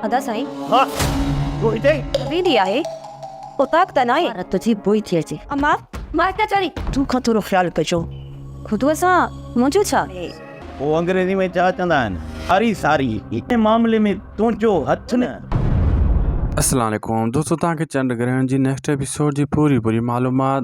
ادا سائين. ها تون هتي. ويندي آهي اوطاق ته ناهي. ها رت جي بوء ٿي اچي. اما مان هتي اچان ٿي. تو کان ٿورو خيال ڪجو. خدوء سان منهنجو ڇا اهي. هو انگريزي ۾ ڇا چوندا آهن ساري ساري ان معاملي ۾ تنهنجو هٿ نه. السلام عليڪم دوستو توهان کي چنڊ گرهڻ جي نيڪسٽ ايپيسوڊ جي پوري پوري معلومات.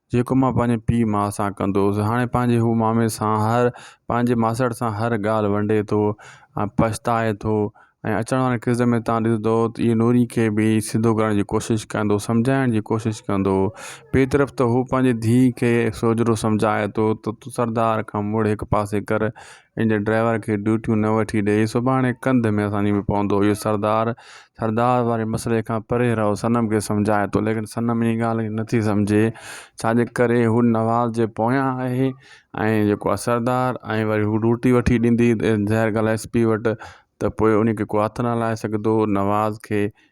جيڪو مان پنهنجي پيء ماء سان ڪندو هوس هاڻي پنهنجي هو مامي سان هر پنهنجي ماسڙ سان هر ڳالهه ونڊي ٿو ۽ پڇتائي ٿو ۽ اچڻ واري قسط ۾ تان ڏسندو ته اهي نوري کي به سڌو ڪرڻ جي ڪوشش ڪندو سمجهائڻ جي ڪوشش ڪندو ٻي طرف ته هو پنهنجي ڌيء کي سوجهرو سمجهائي ٿو ته تون سردار کان مڙهه هڪ پاسي ڪر ان جي ڊرائيور کي ڊيوٽيون نه وٺي ڏئي سڀاڻي ڪنڌ ۾ اسان جي به پوندو اهو سردار سردار واري مسئلي کان پري رهو صنم کي سمجهائي ٿو ليڪن صنم ان ڳالهه کي نٿي سمجهي ڇاجي ڪري هو نواز جي پويان آهي ۽ جيڪو آهي سردار ۽ وري هو روٽي وٺي ڏيندي ظاهر ڳالهه آهي ايس پي وٽ ته پوء ان کي ڪو هٿ نه لائي سگهندو نواز کي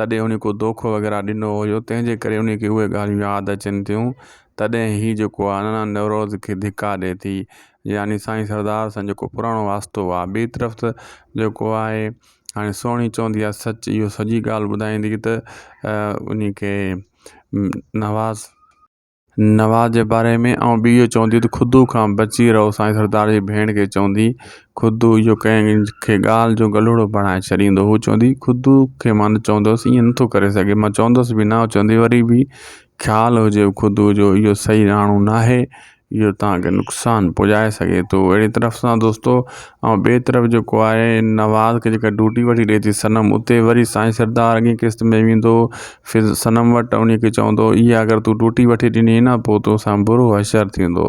تڏهن هن ڪو دوکو وغيره ڏنو هيو تنهن جي ڪري ان کي اهي ڳالهيون ياد اچن ٿيون تڏهن هي جيڪو آهي نانا نوروز کي ڌڪا ڏي ٿي يعني سائين سردار سان جيڪو پراڻو واسطو آهي ٻي طرف ته جيڪو آهي هاڻي سهڻي چوندي آهي سچ اهو سڄي ڳالهه ٻڌائيندي ته ان کي نواز نواز جي باري ۾ آئون به اهو چوندي ته خودو کان بچي رهو سائين سردار جي ڀيڻ کي چوندي خودو اهو ڪنهن کي ڳالهه جو گلهوڙو بڻائي ڇڏيندو هو چوندي خودو کي مان چوندوس ائين نٿو ڪري سگهي مان چوندوس به نه اهو چوندي وري به خيال هجي خودو جو اهو صحيح راڻو ناهي اهو توهان کي نقصان پڄائي سگهي ٿو اهڙي طرف سان دوستو ۽ ٻئي طرف جيڪو آهي نواز کي جيڪا ڊوٽي وٺي ڏئي ٿي صنم اتي وري سائين سردار اڳئين قسط ۾ ويندو پھر صنم وٽ وڃي ڪي چوندو، اھا اگر تون ٽوٽي وٺي ڏني ھئي ھا، پوء توسان برو حشر ٿيندو.